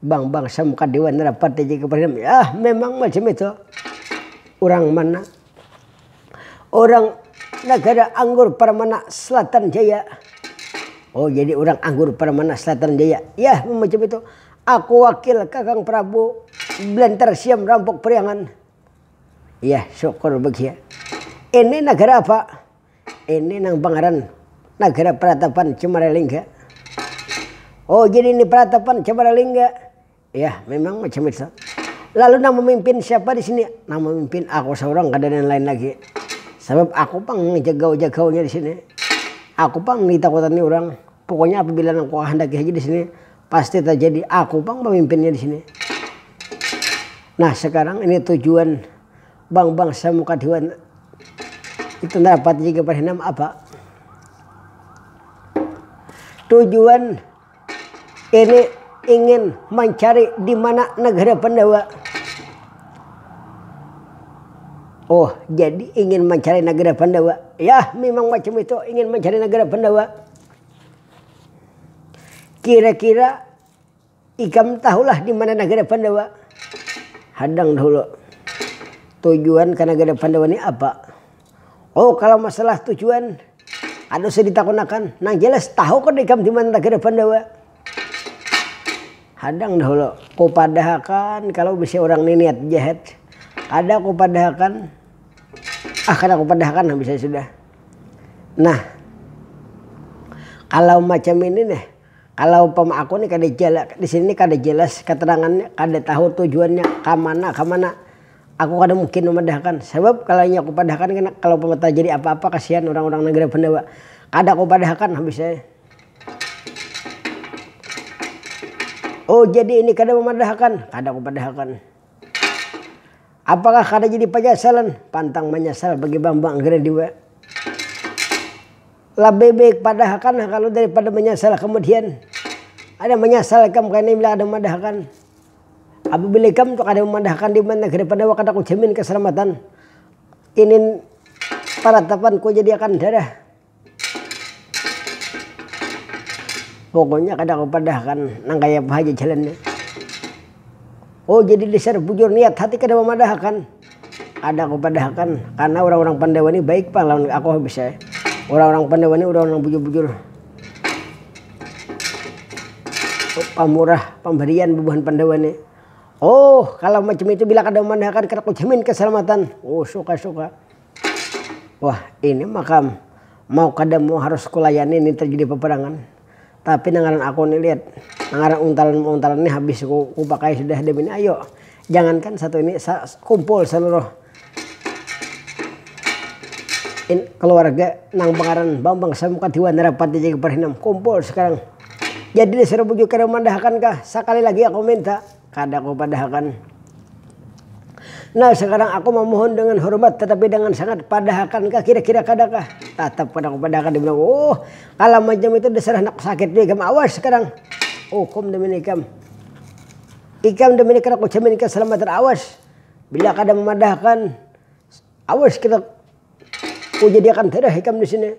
Bang bang sam ka dewan rapat di jg presiden yah memang macam itu urang mana urang negara anggur permana selatan jaya oh jadi urang anggur permana selatan jaya yah memang macam itu aku wakil kakang prabu blantar siam rampok priangan yah syukur bgh ini negara apa. Ini nang pangaran Nagara Peratapan Cemaralingga. Oh, jadi ini Peratapan Cemaralingga. Ya, memang macam itu. Lalu nang memimpin siapa di sini? Nang memimpin aku seorang kada ada yang lain lagi. Sebab aku pang jagau-jagaunya di sini. Aku pang nang ditakutani urang. Pokoknya apabila nang kukahandaki haja di sini pasti terjadi. Aku pang pemimpinnya di sini. Nah, sekarang ini tujuan Bang bangsa muka dua itu dapat juga berhenam apa tujuan ini ingin mencari di mana negara Pandawa oh jadi ingin mencari negara Pandawa ya memang macam itu ingin mencari negara Pandawa kira-kira Ikam tahulah di mana nagara Pandawa? Hadang dahulu. Tujuan ka nagara Pandawa ni apa? Oh, kalau masalah tujuan, kada usah ditakunakan. Nang jelas, tahu kada ikam di mana nagara Pandawa? Hadang dahulu. Kupadahakan kalau bisi urang ni niat jahat. Kada kupadahakan. Ah, kada kupadahakan habis ai sudah. Nah, kalau macam ini nah. Kalo umpama aku nih kada jelas, di sini nih kada jelas keterangannya, kada tahu tujuannya kamana kamana, aku kada mungkin memadahakan. Sabab kalo inya kupadahakan kena kalo umpama terjadi apa apa kasihan urang urang negara pendawa. Kada kupadahakan habis ai. Oh jadi ini kada memadahakan, kada kupadahakan. Apakah kada jadi penyesalan, pantang menyesal bagi bambang anggreni dua. Labih baik padahakan ha kalu daripada manyasal kamudian. Ada manyasal ikam kaini bila kada madahkan. Apabila ikam tu kada mamadahakan di mana kada pernah kada kujamin kasalamatan. Ini paratapanku jadi akan darah. Pokoknya kada kupadahakan nang kaya apa haja jalannya. Oh jadi dasar bujur niat hati kada mamadahakan. Kada kupadahakan, karna urang-urang Pandawa ni baik pang lawan aku habis ai. Urang-urang Pandawa ni urang nang bujur-bujur pamurah pambarian bubuhan Pandawa ni. Oh, kalau macam itu bila kada mamadahakan kada kujamin keselamatan. Oh, suka suka. Wah, ini makam mau kada mau harus kulayani ini terjadi peperangan. Tapi nang ngaran aku ni Lid, nang ngaran untalan-untalan ni habis ku pakai sudah di bini ayu. Jangankan satu ini, sa kumpul saluruh kaluarga nang bangaran Bambang Sam Muka Tiwa Narapati Jagiparahinam kumpul sekarang. Jadi disuruh bujukan mandahakan kah, sakali lagi aku minta. Kada kupadahakan. Nah, sakarang aku mamuhun dengan hormat tatapi dengan sangat, padahakan kah kira-kira kada kah? Tatap kada kupadahakan dibilang. Uuh, kalam macam itu dasar handak sakit tu ikam, awas sakarang ukum damin ikam. Ikam damin kada kujamin kasalamatan awas. Bila kada mamadahakan, awas kita kujadiakan darah ikam disini.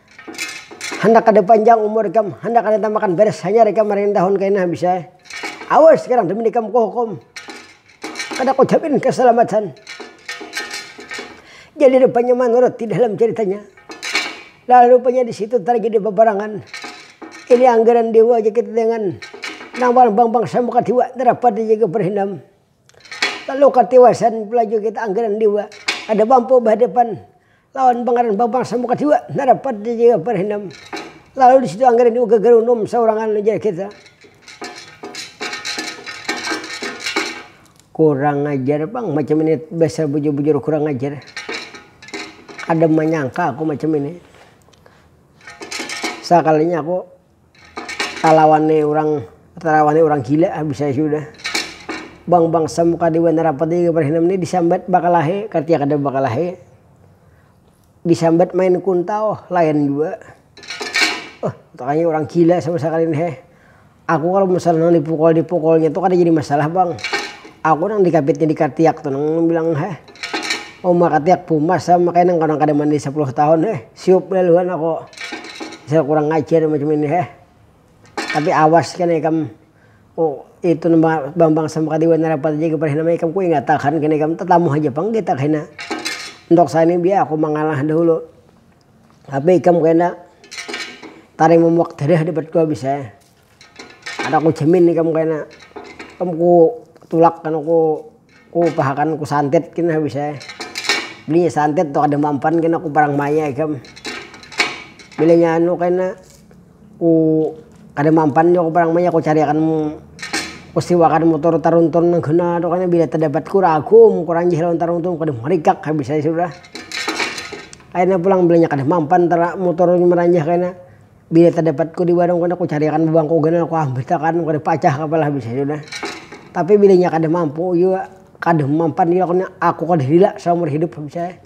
Handak kada panjang umur ikam, handak kada tambakan beres hanyar ikam marain tahun kaina bisa ai. Awas sekarang jamin ikam kuhukum. Kada kujamin keselamatan. Jadi rupanya manurut di dalam ceritanya, lah rupanya di situ tarjadi peperangan. Ini anggaran dewa aja kita jangan nang paling bang bangsa muka dewa narapat aja ikam berhindam. Lalu katiwasan pula jua kita angganan dewa kada mampu bahadapan lawan pangaran bambang samuka dewa narapat dijaga parhinam lalu disitu angganan dewa gagarunum saurangan ujar kita. Kurang ajar pang macam ini dasar bujur-bujur kurang ajar kada manyangka aku macam ini sakalinya aku. Talawannya urang talawannya urang gila habisnya sudah. Bangsa muka di Bandar Rapat ni gambar hinam ni disambat bakalahi kartia kada bakalahi. Disambat main kuntau lain jua. Huh takanya urang gila sama sakali ni heh. Aku kalo misal nang dipukul-dipukulnya tu kada jadi masalah bang. Aku nang dikapitnya dikartiak tu nang bilang heh. Umur katiak pumas am makanya nang orang kada mandi sapuluh tahun he siup lalu an aku misal kurang ngajar macam ini he tapi awas kena ikam itu bambang samaka dewa nang rapat aja pernah nama ikam ku ingat akan kena ikam tatamu haja pang kita kena untuk sani biar aku mangalah dahulu tapi ikam kena taring mumuak darah dapat ku habis he. Kada ku jamin ikam kena. Ikam ku tulak kena ku ku upahakan ku santet kena bisa. Bininya santet tu kada mampan kena ku parang maya ikam. Bilanya anu kena ku kada mampan jua ku parang maya ku cari akan ku siwakan mutur taruntun nang kena tu kena bila tadapat ku ragum ku ranjih lawan taruntun kada marikak habis ai sudah. Kena pulang bilanya kada mampan tara mutur maranjah kena. Bila tadapatku di warung kena kucariakan babangku ganal kuambiltakan kada pacah kapa lah bisa jua nah. Tapi bila inya kada mampu jua kada mampan jua kena aku kada lila saumur hidup bisa eh.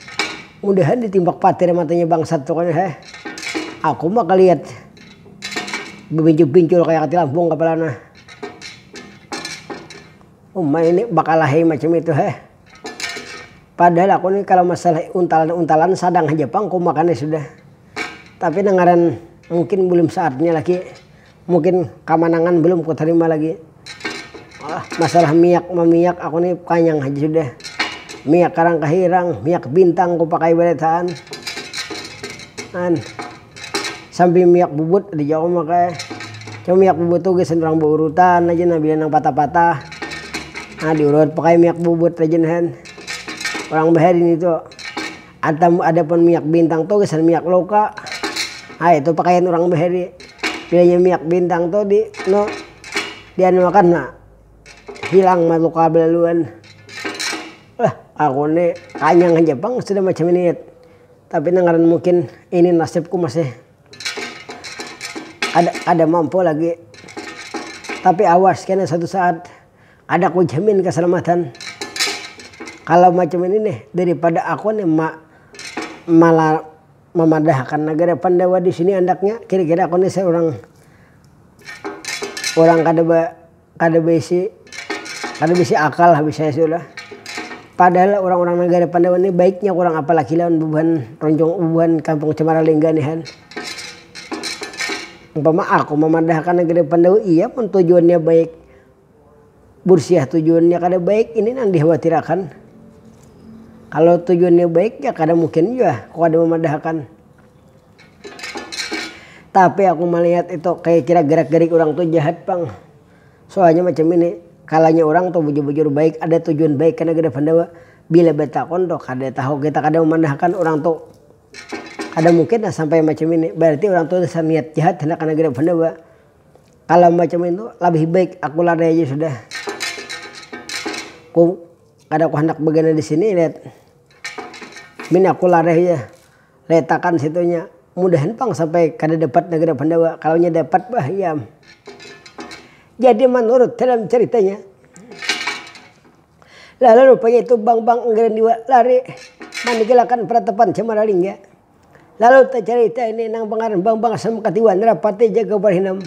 Mudahan ditimbak patir matanya bangsat tu kena eh. Aku ma kaliat babincul-bincul kaya katilampung kapala nah. Uma ini bakalahi macam itu eh. Padahal aku ni kalau masalah untalan-untalan sadang haja pang kumakannya sudah. Tapi nang ngaran mungkin belum saatnya lagi, mungkin kamanangan belum kutarima lagi. Masalah miak mamiak aku ni kanyang haja sudah. Miak karang kahirang, miak bintang kupakai banar taan. Sampai miak bubut ada jua aku makai. Cuma miak bubut tu gasan urang baurutan aja nah bila nang patah-patah diurut pakai miak bubut aja nah. Urang bahari nitu. Ada ada pun minyak bintang tu gasan minyak loka ha itu pakaian urang bahari pilihnya minyak bintang tu di nu di anu akan na hilang ma luka balaluan wah aku ni kanyang haja pang sudah macam ini tapi nang ngaran mungkin ini nasibku masih kada kada mampu lagi tapi awas kena suatu saat Kada ku jamin kasalamatan kalau macam ini nih daripada aku nih ma malah mamadahakan nagara pandawa di sini andaknya kira-kira aku nih seorang orang kada ba kada baisi kada baisi akal habis saya sudah. Padahal orang-orang nagara pandawa nih baiknya kurang apalagi lawan bubuhan roncong bubuhan kampung cemara lingga nihan. Umpama aku mamadahakan nagara pandawa iya pun tujuannya baik. Bursiah tujuannya kada baik ini nang dikhuatirakan. Kalau tujuannya baik ya kada mungkin jua aku kada mamadahakan. Tapi aku malihat itu kaya kira gerak-gerik urang tu jahat pang. Soalnya macam ini, kalanya urang tu bujur-bujur baik ada tujuan baik kena geda Pandawa. Bila batakun tu kada tahu kita kada mamadahakan urang tu kada mungkin lah sampai macam ini. Berarti urang tu dasar niat jahat handak kena geda Pandawa. Kalau macam itu labih baik aku lari aja sudah. Ku kada ku handak bagana di sini let. Min aku lari haja. Letakan situnya. Mudahan pang sampai kada dapat Nagara Pandawa. Kalau nya dapat bah iam. Jadi manurut dalam caritanya. Lalu rupanya itu bang-bang enggaran jua lari maninggilakan peratapan Camaralingga. Lalu tacarita ini nang pangaran Bambang Asam Katiwa Nara Pati Jaga Barhinam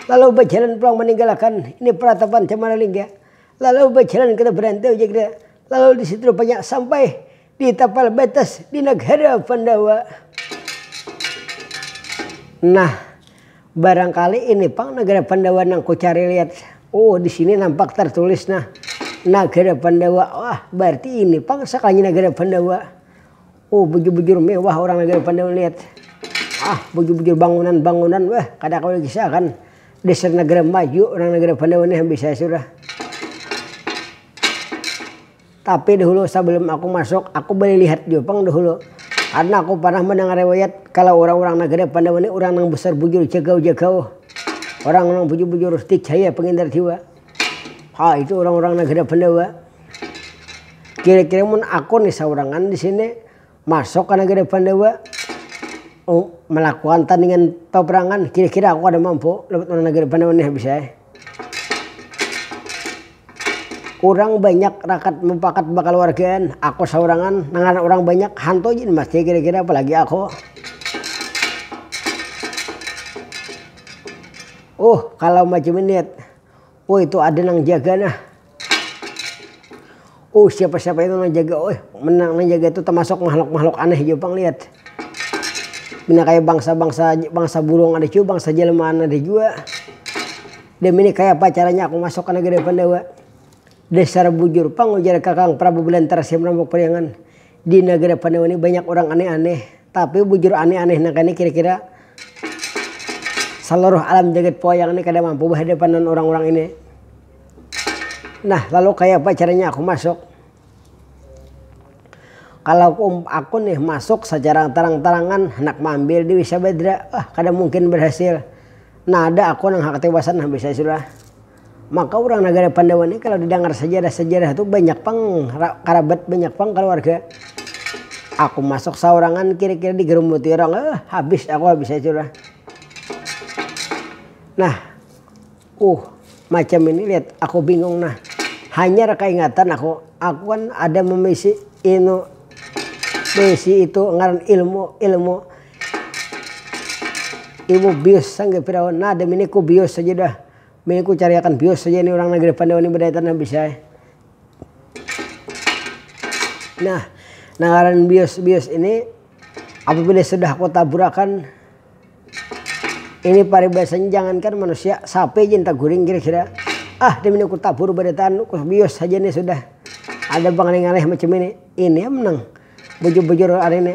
lalu bajalan pulang maninggalakan ini paratapan Cemara Lingga lalu bajalan kada barantau jagda lalu di situ rupanya sampai di tapal batas di nagara Pandawa. Nah, barangkali ini pang nagara Pandawa nang kucari lihat. Oh, di sini nampak tertulis nah nagara Pandawa. Wah, berarti ini pang sakalinya nagara Pandawa. Oh bujur bujur mewah orang lagi pandai melihat ah bujur bujur bangunan bangunan weh kada kawa dikisah akan dasar negara maju orang negara pandai wani habisai sudah. Tapi dahulu sabalum aku masuk aku balilihat jua pang dahulu karna aku parnah mandangar riwayat kalo orang orang negara pandai wani orang nang besar bujur jagau jagau orang nang bujur bujur dicaya pengindar jiwa Ha itu urang-urang nang kada pandawa. Kira-kira mun aku nih saurangan di sini masuk ka nagara pandawa melakukan tandingan paperangan kira-kira aku kada mampu lawan urang nagara pandawa nih habis ai. Urang banyak rakat mupakat bakaluargaan, aku saurangan nang ngarannya urang banyak hantu aja mati kira-kira apalagi aku. Uh kalau macam ini. Oh itu ada nang jaga nah. Oh siapa-siapa itu nang jaga oh menang nang jaga itu termasuk makhluk-makhluk aneh jua pang lihat. Pina kayak bangsa-bangsa bangsa burung ada jua, bangsa jelmaan ada jua. Dem ini kaya apa caranya aku masuk ka negeri Pandawa. Dasar bujur pang ujar kakang Prabu Belantara Siam Rambuk Priangan. Di nagara Pandawa ni banyak urang aneh-aneh. Tapi bujur aneh-aneh naka ni kira-kira saluruh alam jagat wayang ni kada mampu bahadapan lawan urang-urang ini. Nah, lalu kayapa caranya aku masuk? Kalau aku nih masuk sacara tarang-tarangan handak maambil Dewi Sabadra, ah kada mungkin barhasil. Nada aku nang hakatiwasan habis ai sudah. Maka urang nagara Pandawa ni kalo didangar sajarah-sajarah tu banyak pang karabat banyak pang kaluarga. Aku masuk saurangan kira-kira digarumuti urang eh habis aku habis ai sudah. Nah uh macam ini lihat aku bingung nah hanyar kaingatan aku, aku kan ada memisi inu beisi itu ngaran ilmu ilmu ilmu bius sangga firaun nah damini ku bius aja dah. Mih ku cariakan bius haja ini urang nang gede pandawa ni badaya tanah bisa ai. Nah, nang ngaran bius bius ini apabila sudah ku taburakan ini paribasanya jangankan manusia sapi haja ini taguring kira kira ah dimini ku tabur badataan ku bius haja ni sudah ada bangalih ngalih macam ini ini am nang bujur bujur hari ini.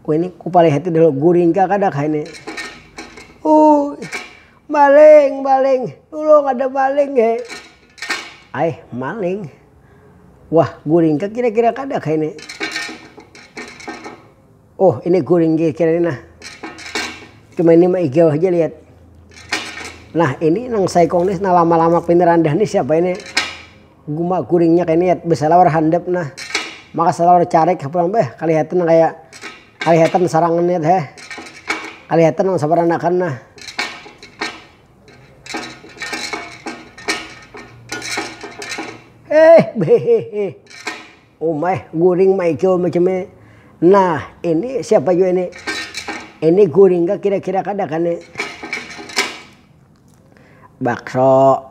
Wah ini kupalihati dahulu guring kah kada kah ini. Uh, maling, maling, tulung ada maling he. Ay, maling. Wah, guring kah kira-kira kada kah ini. Oh, ini guring kira-kira ini nah. Cuma ini mah igel aja lihat. Nah, ini nang saikong ini nah lama-lama pindah dah ini siapa ini. Guma guringnya keniat besalawar handap nah maka salawar carik ha pulang beh kalihatan kaya kalihatan sarangan niat heh kalihatan nang sabaranakan nah. Heh beheheh uma eh guring maicul macam ni nah ini siapa jua ini ini guring kah kira kira kada kah ni bakso.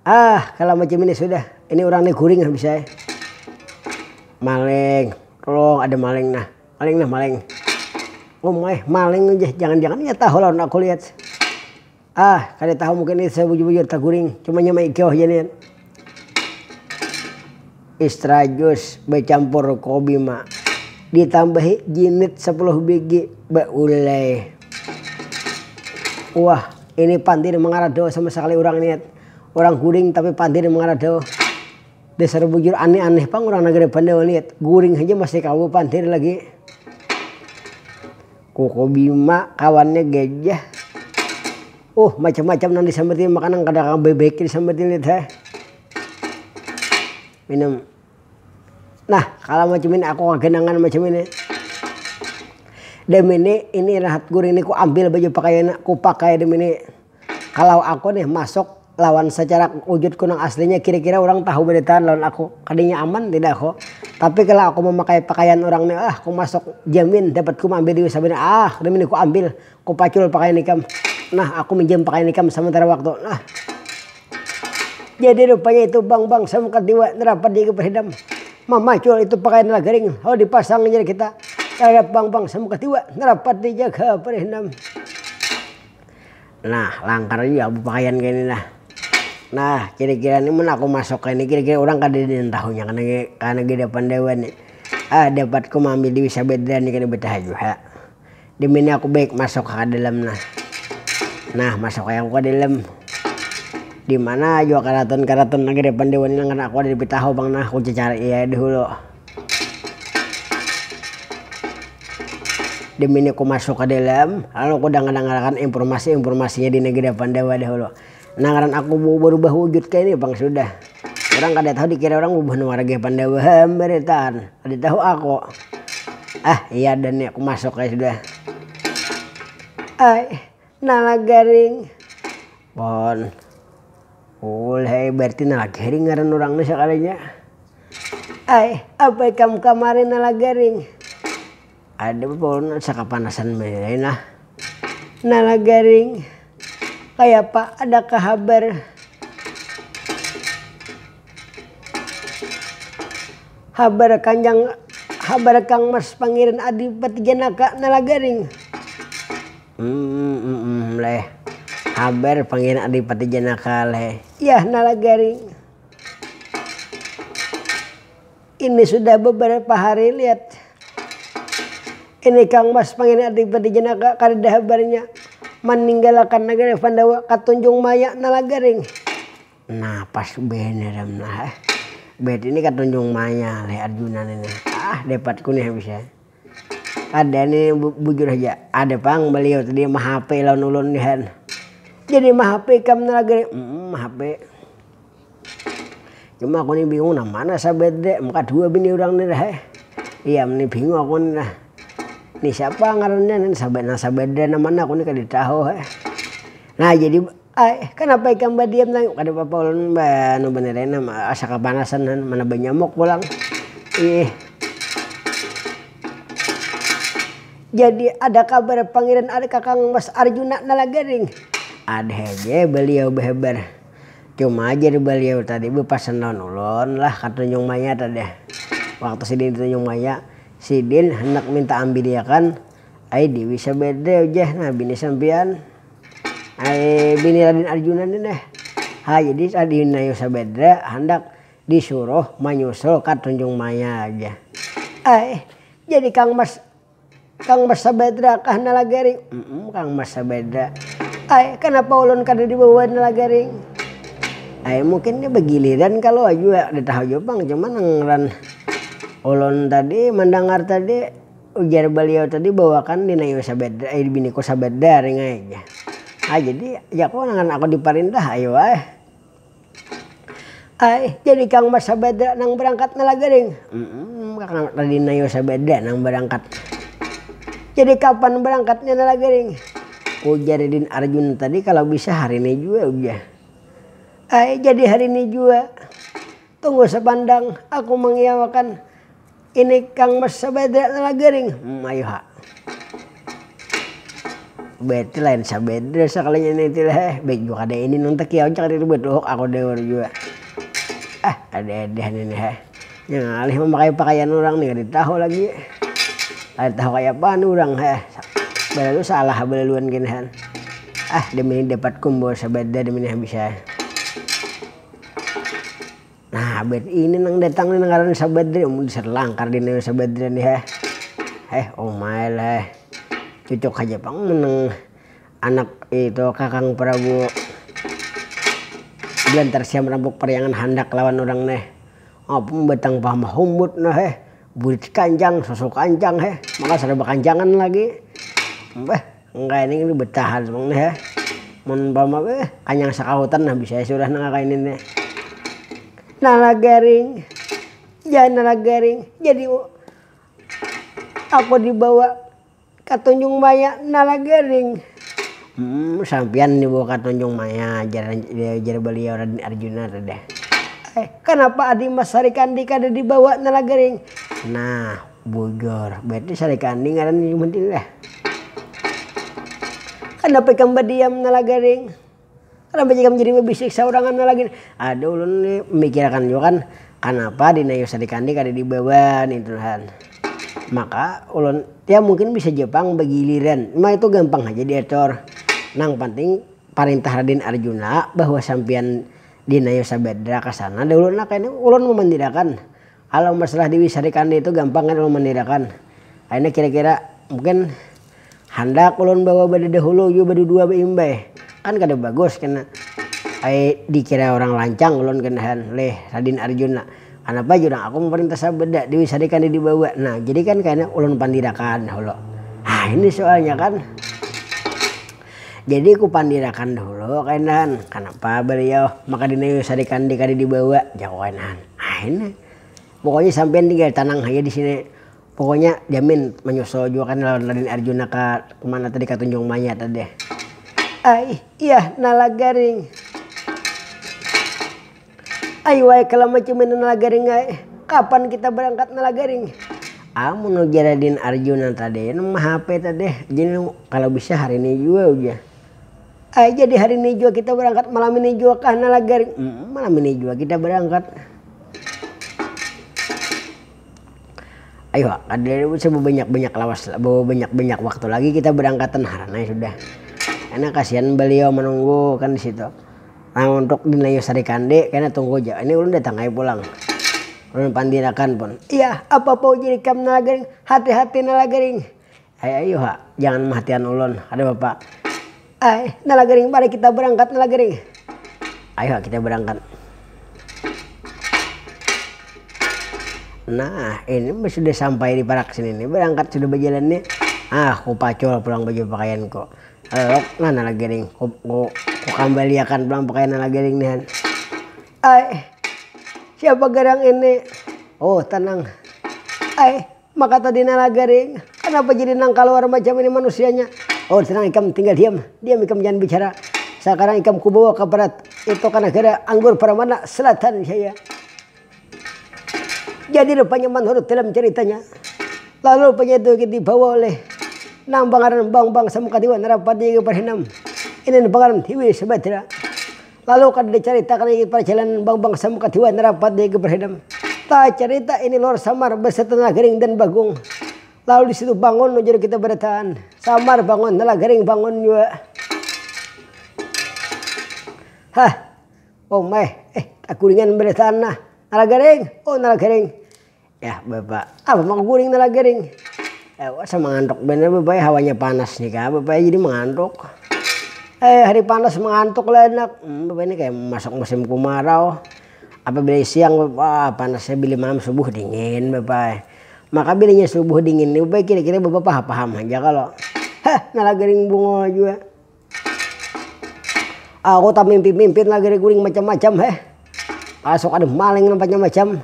Ah kalo macam ini sudah, ini urang ni guring nah bisa ai. Maleng, tolong ada maleng nah, maleng nah maleng. Umai, maleng ja, jangan-jangan inya tahu lawan aku lihat. Ah, kada tahu mungkin inya sabujur-bujur taguring, cuma nya maigau haja nian. Istra jus becampur kobi ma. Ditambahi jinit sepuluh bigi beulai. Wah ini pandir mangarado sama sekali urang niat. Urang guring tapi pandir mangarado. Dasar bujur aneh aneh pang urang nagara bandawa niat. Guring haja masih kawa pandir lagi. Ku kobi ma kawannya gajah. Uh macam macam nang disambati makanan kada kawa baik baik disambati niat ha. minum nah kalo macam ini aku kaganangan macam ini demini ini rahat guring ni ku ambil baju pakaiannya ku pakai demini kalau aku nih masuk lawan secara wujudku nang aslinya kira-kira urang tahu baritaan lawan aku kadanya aman tidak aku tapi kalau aku memakai pakaian urang nih ah ku masuk jamin dapatku maambil duit sabana ah demini ku ambil. Kupacul pakaian ikam. Nah, aku minjam pakaian ikam samentara waktu. Nah. Jadi rupanya itu bang bang samkat diwa nerapat di ikam hidam. Mamacul itu pakaian lah garing lalu dipasang jar kita. Taradap bang bang samkat diwa nerapat di jaga parihindam. Nah, langkar jua bepakaian kaya ini nah. Nah, kira-kira ni mun aku masuk kaya ini kira-kira urang kadada nang tahunya kah nang kaya nang di depan dewan ni. Ah, dapatku maambil duit sabedra ni kada betahajua. demi ini aku baik masuk ka dalam nah nah masuk ai aku ka dalam dimana jua karaton karaton nageri pandewa ni nang kada aku lebih tahu pang nah aku cacarii ai dahulu demi ini ku masuk ka dalam lalu ku dangar dangarakan imprumasi imprumasinya di nageri pandawa dahulu. Nah ngaran aku barubah wujud kaya ini pang sudah. Urang kada tahu dikira urang ubah nang wara gaya pandawa hambaritaan. Kada tahu aku. Ah iya ada nih aku masuk ai sudah. Ai nala garing. Pon. Ulih ai berarti nala garing ngaran urang nih sakalinya. Ai apa ikam kamari nala garing. Ada pun asa kapanasan bainai nah. Nala garing, kayapa adakah habar? Habar kanjang habar kang mas pangeran adipati janaka nala garing. Ummm leh, habar pangeran adipati janaka leh. Yah nala garing. Ini sudah beberapa hari lihat ini kang mas pangin adipati jenaka kadada habarnya maninggalakan nagari pandawa ka tunjung maya nalagaring nah pas bene ram nah bet ini ka tunjung maya leh arjuna nih nah ah depatku nih habis ya. Kada ni bujur haja ada pang baliau tadi mahapai lawan ulun dihan jadi mahapai ikam ni lagi umm mahapai cuma aku ni bingung nang mana sabar dek muka dua bini urang ni dah iya am ni bingung aku ni nah ni siapa ngarannya ni sabar nang sabar dek nang mana aku ni kada tahu nah jadi. Ai, kanapa ikam badiam tadi? Kada papa ulun banirina asa kapanasan mana banyamuk pulang. Ih. Jadi ada kabar pangiran ari kakang mas arjuna nala garing? Ada haja baliau bahabar. Cuma jar baliau tadi bapasan lawan ulun lah ka tanjung maya tadi. Waktu sidin di tanjung maya, sidin handak minta ambiliakan ai dewi sabada jar nah bini sampian. bini Raden Arjuna ni nah. Ha jadi Sadinaya Sabadra handak disuruh manyusul ka Tunjung Maya jar. Aih, jadi Kang Mas Kang Mas Sabadra kah Nalagaring? Umm, Kang Mas Sabadra. Aih, kanapa ulun kada dibawa Nalagaring? Aih, mungkin ni bagiliran kalu jua, kada tahu jua pang. Cuma nang ngaran ulun tadi mandangar tadi. Ujar baliau tadi bawakan di Nayu Sabadra ai di biniku Sabadra ring ai jar. Ah jadi ya kalo nang aku di parintah ai wah. Ai jadi kang mas Sabadra nang barangkat ni lagi ring. Umm kakang tadi Nayu Sabadra nang barangkat. Jadi kapan barangkatnya ni lagi ring. Ujar Didin Arjun tadi kalo bisa hari ni jua ujar. Ai jadi hari ni jua. Tunggu sapandang aku mangiyawakan. Ini kang bersabedra telah garing, hmm ayu ha. Berarti lain sabedra sekalinya ini tilah eh, baik jua kada ini nang takiau cakar ini batuhuk aku dewar jua. Ah ada ada ini nih eh, nya ngalih mamakai pakaian urang nih kada tahu lagi kada tahu kaya apaan urang eh, belalu salah ha belaluan gin han. Ah demi ini dapat kumpul sabedra demi nih bisa. Nah abet ini nang datang nih nang ngarannya sabadri amun di sri langkar di nengok sabadrian nih heh heh umai lah heh cucuk haja pang mun nang anak itu kakang prabu belantar siam rampuk pariangan handak lawan urang neh apa batang paha mahumbut nah heh burit kanjang susu kanjang heh maka sudah bakanjangan lagi beh. Nangkaya ini gin betahan pang nih eh. Mun umpama beuh kanyang sakahutan nah bisa ai sudah nangka ini nih. Nala garing, ja nala garing jadi aku dibawa ka tunjung maya nala garing. Humm sampiyan dibawa ka tunjung maya jar jar baliau raden arjuna tuh deh. Eh kanapa adimas sarikandi kada dibawa nala garing. Nah. Bujur berarti sarikan ni ngaran ni buhan tini dah. Kanapa ikam badiam nalagaring. Kanapa ikam jadi babisik saurangan nalagaring. Aduh ulun ni mikirakan jua kan kanapa dinayu sarikan ni kada dibawa nintu han. Maka ulun, ya mungkin bisa jua pang bagiliran. Ma itu gampang haja diatur. Nang panting parintah raden arjuna bahwa sampiyan dinayu sabadra ka sana dahulu nah kaytu. Ulun mamandirakan. Kalau masalah di wisari kandi itu gampang kan ulun mandiriakan. Akhirnya kira-kira mungkin handak ulun bawa bada dahulu jua badudua baimbay. Kan kada bagus kena ai dikira urang lancang ulun kena han leh Radin Arjun lah. Kanapa jar urang, aku maparintah sabada di wisari kandi dibawa. Nah jadi kan kena ulun pandirakan dahulu. Nah ini soalnya kan. Jadi ku pandirakan dahulu kainahan, kanapa baliau maka dinayu sarikandi kada dibawa, jaku kainahan. Aina, pokoknya sampiyan tinggal tanang haja disini, pokoknya jamin manyusul jua kan lawan raden arjuna ka mana tadi ka tunjung maya tadi. Aih, iyah nalagaring. Ai wahai kala macumin Nalagaring ai, kapan kita barangkat Nalagaring? Amun ujar Radin Arjuna tadi nang mahape tadi, jadi kalo bisa hari ni jua ujar. Ai jadi hari ni jua kita barangkat malam ini jua kah Nalagaring? Humm malam ini jua kita barangkat. Ai wak kada usah babanyak-banyak lawas babanyak-banyak waktu lagi kita barangkatan haran ai sudah, karna kasian baliau manunggu kan di situ. Nang untuk di Nayu Sari Kande kena tunggu ja, ini ulun datang ai pulang. Ulun pandir akan pun. Iyah, apa pau jadi ikam Nalagaring, hati-hati Nalagaring. Ai ayu ha, jangan mahatian ulun, kada papa. Ai, Nalagaring mari kita berangkat Nalagaring. Ayu ha kita berangkat. Nah, ini mun sudah sampai di parak sini nih, berangkat sudah bajalan nih, ah kupacul pulang baju pakaianku. Alok nah nala gering ku ku kukambaliakan pulang pakaian nala gering nih han. Ai siapa garang ini? Uuh tenang. Ai maka tadi nala gering kanapa jadi nang kaluar macam ini manusianya? Uuh tenang ikam tinggal diam, diam ikam jangan bicara. Sakarang ikam kubawa ka parat itu ka nagara anggur Pramana Selatan jaya. Jadi rupanya manurut dalam caritanya, lalu rupanya itu lagi dibawa oleh nang pangaran Bang Bang Samukadiwa Narapati lagi berhenam. Ini nang pangaran Hiwi Subadra. Lalu kada dicaritakan lagi parjalanan Bang Bang Samukadiwa Narapati lagi berhenam. Tacarita ini Lor Samar beserta Nalagaring dan Bagong. Lalu di situ bangun ujar kita barataan. Samar bangun, Nalagaring bangun jua. Hah. Omai, eh takuringan baritaan nah, nala garing, oh nala garing. Yah bapa, apa maka guring nala garing. Ewasa mangantuk banar bapa eh, hawanya panas ni kah bapa eh jadi mangantuk. Eh hari panas mangantuk lah anak, em bapa ini kaya masuk musim kumarau, apabila siang bapa panasnya bila malam subuh dingin bapa eh. Maka bilanya subuh dingin ni bapa kira-kira bapa paham-paham haja kalo. Heh nala garing bungo jua. Aku tamimpi-mimpin lagi nih guring macam-macam heh, masuk ada maling nang macam-macam,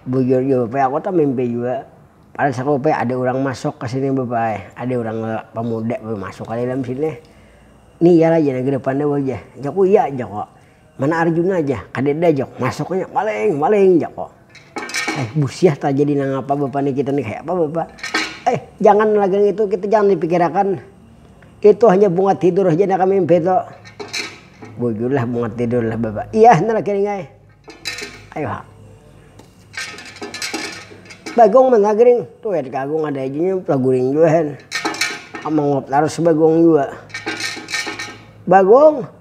bujur jua bapak aku tamimpi jua, pada saat itu bapak ada urang masuk kesini bapak ai, ada urang pemuda masuk aja dalam sini, nih iyalai jar nang kedepan nih wajah, jaku iya jaku. Mana Arjuna jah, kadeda jak, masuknya maling, maling jako. Eh busyah tajadi nangapa bapa ni kita ni kayapa bapa. Eh jangan lagi ngitu kita jangan dipikirakan, itu hanya bunga tidur haja naka mimpi tu. Bujurlah bunga tidur lah bapa, iyah nah laki ning ai. Ayu ha. Bagong mana gering, tu ya ka agung ada haja nya lagu ring jua hen. Manguap tarus bagong jua. Bagong.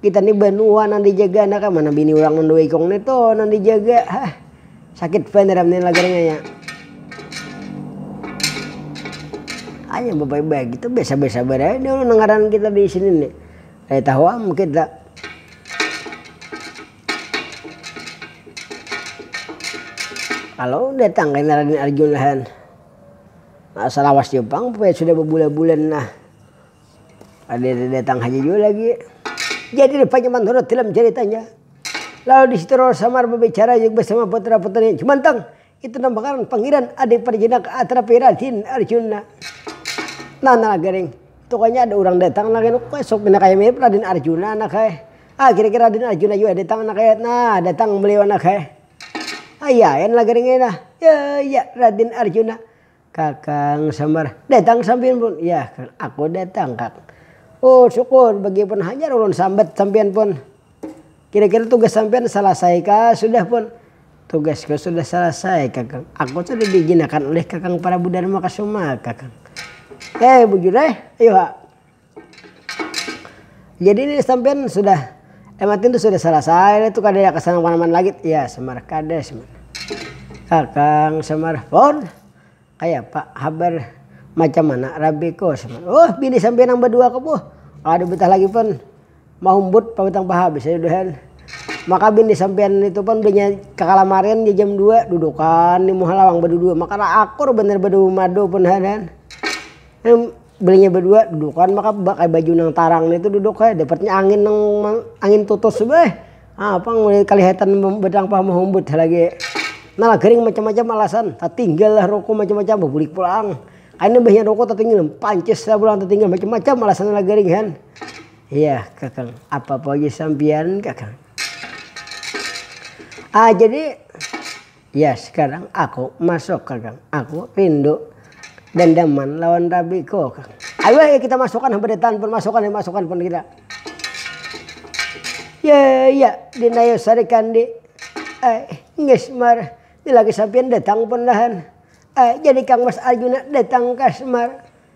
Kita ni banua nang dijaga nah kah mana bini urang nang dua ikung ni tu nang dijaga hah sakit banar am ni lagar nya ya. Hanya bapaya bagitu basabar-sabar aja dulu nang ngaran kita di sini ni kada tahu am kita. Kalo datang kena raden arjun lahan salawas jua pang bapaya sudah babulan-bulan nah. Kadada datang haja jua lagi. Jadi rupanya manurut tilam caritanya. Lalu di situ Roro Samar babicara jua bersama putra-putrinya Jumantang, itu nama ngaran Pangiran ada yang parjinak atrapi Raden Arjuna. Nah nala garing, tukanya ada urang datang nang kaya kok esok pina kaya mirip Raden Arjuna nah kaya. Ah kira-kira Raden Arjuna jua datang nah kaya, nah datang beliau nah kaya. Ayah ayah nala garing ai nah, ya ya Raden Arjuna. Kakang sambar, datang sampiyan pun. Yah kak, aku datang kak. Oh syukur, bagipun hajar ulun sambat sampiyan pun. Kira kira tugas sampiyan salasai kah sudah pun. Tugasku sudah salasai kakang, aku sudah diijinakan oleh kakang prabu dharma kasuma kakang. Hei bujur eh, ayu ha. Jadi ni sampian sudah MAT tu sudah salasai tu kada ya kesan kemana mana lagi ya semar kada semar kakang semar fon kaya apa habar macam mana rabi ko semar oh bini sampian yang badua ko boh kada betah lagi fon mahumbut pabutang paha bisa nya buhan maka bini sampian itu pon bunya kakalamarian di jam dua dudukan di muha lawang badudua maka raakur banar badumadu pun ha kan. Belinya badua dudukan maka pakai baju nang tarang nitu duduk ai dapatnya angin nang angin tutus beuh ha pang mulai kalihatan batampah mahumbut ha lagi nah gering macam macam alasan tatinggal lah ruko macam macam babulik pulang akhirnya imbahnya ruko tatinggal pancis lah pulang tatinggal macam macam alasan lah gering kan iya kaka apa poji sampian kaka ah jadi. Ya sekarang aku masuk kakang. Aku rindu dandaman lawan rabiku kang. Ayu ayu kita masukan habadetan pun masukan ayu masukan pun kita. Ya ya dina ayu sarikan di ai ngesmar lilaki sampiyan datang pun lahan ai jadi kang mas arjuna datang ka smar.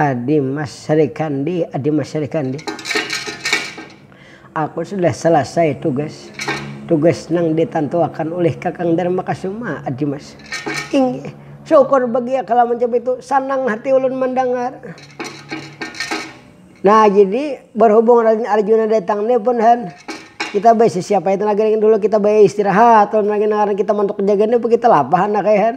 Adi Mas Srikandi, Adi Mas Srikandi. Aku sudah salasai tugas. Tugas nang ditantuakan ulih Kakang Darmakasuma, Adi Mas. Inggih. Syukur bagiya kala macam itu. Sanang hati ulun mandangar. Nah, jadi barhubung Raden Arjuna datang ni pun Han, kita baisi siapa itu lagi dulu kita baistirahat ulun lagi nang ngarannya kita mantuk jaga ni apa kita lapah anak ai Han.